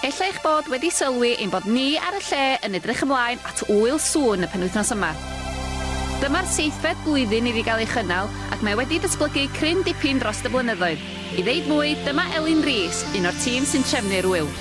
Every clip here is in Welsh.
Ella eich bod wedi sylwi ein bod ni ar y lle yn edrych ymlaen at Ŵyl Sŵn y penwythnos yma. Dyma'r seithfed blwyddyn iddi gael ei chynnal ac mae wedi datblygu cryn dipyn dros y blynyddoedd. I ddeud mwy, dyma Elin Rees, un o'r tîm sy'n trefnu'r ŵyl.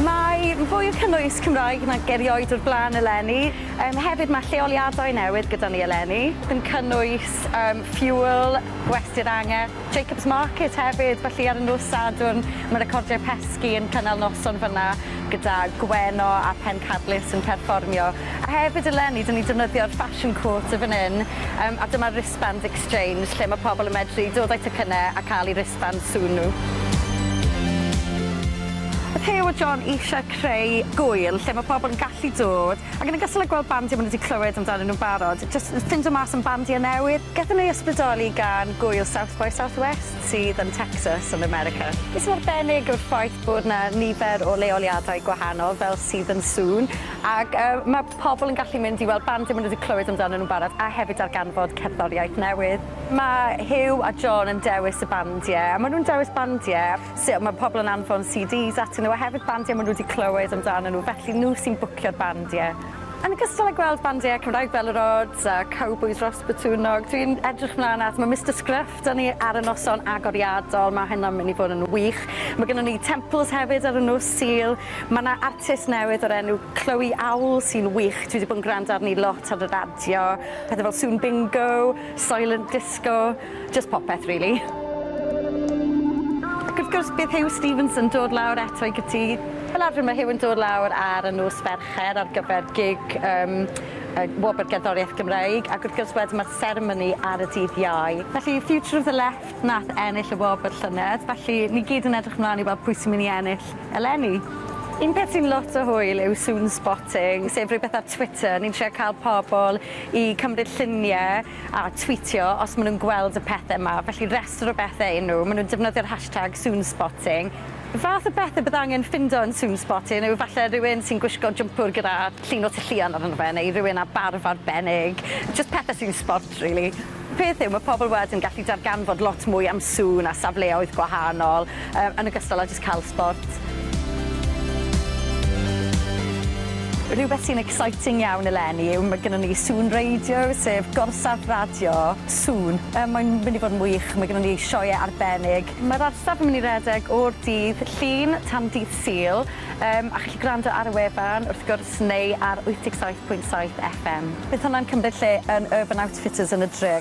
Mae fwy o cynnwys Cymraeg nag erioed o'r blaen eleni. Yym hefyd mae lleoliadau newydd gyda ni eleni, yn cynnwys yym Fuel, Gwesty'r Angerdd, Jacobs Market hefyd, felly ar y nos Sadwrn ma' Recordiau Pesgi yn cynnal noson fynna gyda Gwenno a Pencadlys yn perfformio. A hefyd eleni 'dyn ni'n defnyddio'r Fashion Quarter fan 'yn yym a dyma'r Wristbands Exchange lle ma' pobl yn medru dod â'u tocynne a ca'l 'u wristbands sŵn nhw. O'dd Huw a John isie creu gŵyl lle ma' pobl yn gallu dod ac yn ogystal â gweld bandiau ma' nhw 'di clywed amdanyn nhw'n barod Jyst yn ffindo mas am bandiau newydd. Gethon ni ysbrydoli gan gŵyl South by Southwest sydd yn Texas yn America. Be sy'n arbennig yw'r ffaith bod 'na nifer o leoliadau gwahanol fel sydd yn sŵn ac yy ma' pobol yn gallu mynd i weld bandiau ma' nw 'di clywed amdanyn nw'n barod a hefyd darganfod cerddoriaeth newydd. Ma' Huw a John yn dewis y bandie a ma' nw'n dewis bandie sy- ma' pobol yn anfon CDs atyn nw a hefyd bandiau ma' nw 'di clywed amdanyn nw felly nw sy'n bwcio'r bandie. Yn ogystal â gweld bandiau Cymraeg fel yr Odds a Cowbois Ros Botwnnog, dwi'n edrych mlaen at, mae Mister Scruff 'da ni ar y noson agoriadol, mae hynna'n mynd i fod yn wych. Mae gynnon ni Temples hefyd ar y nos Sul, mae 'na artist newydd o'r enw Chloe Owl sy'n wych, dwi 'di bod yn gwrando arni lot ar y radio, pethe fel Sŵn Bingo, Soylent Disco. Jyst popeth rili. Ac wrth gwrs bydd Huw Stephens yn dod lawr eto i Gytŷ. Fel arfer mae Huw yn dod lawr ar y nos Fercher ar gyfer gig yym y Wobr Gerddoriaeth Gymreig ac wrth gwrs wedyn mae'r seremoni ar y dydd Iau. Felly Future of the Left nath ennill y wobr llynedd felly ni gyd yn edrych mlan i weld pwy sy'n myn' i ennill eleni. Un peth sy'n lot o hwyl yw Soon Spotting sef rywbeth ar Twitter ni'n trio ca'l pobol i cymryd llunie a twîtio os maen nhw'n gweld y pethau yma, felly rhestr o bethau yw nhw, maen nhw'n defnyddio'r hashtag soonspotting. Y fath o bethau bydd angen ffindo yn soonspotting yw falle rhywun sy'n gwisgo jwmpwr gyda llun o Tŷ Llion arno fe neu rhywun â barf arbennig, jyst pethau sy'n sbort rili. Y peth yw, mae pobl wedyn yn gallu darganfod lot mwy am sŵn a safleoedd gwahanol, yn ogystal â Sbort, cael sbort. Rhywbeth sy'n exciting iawn eleni yw ma' gynnon ni Sŵn Radio, sef gorsaf radio sŵn. Yy mae'n mynd i fod yn wych, mae gynnon ni sioeau arbennig. Mae'r orsaf yn mynd i redeg o'r dydd Llun tan dydd Sul, yym a chi'n gallu gwrando ar y wefan wrth gwrs neu ar 87.7 FM. Bydd hwnna'n cymryd lle yn Urban Outfitters yn y dre.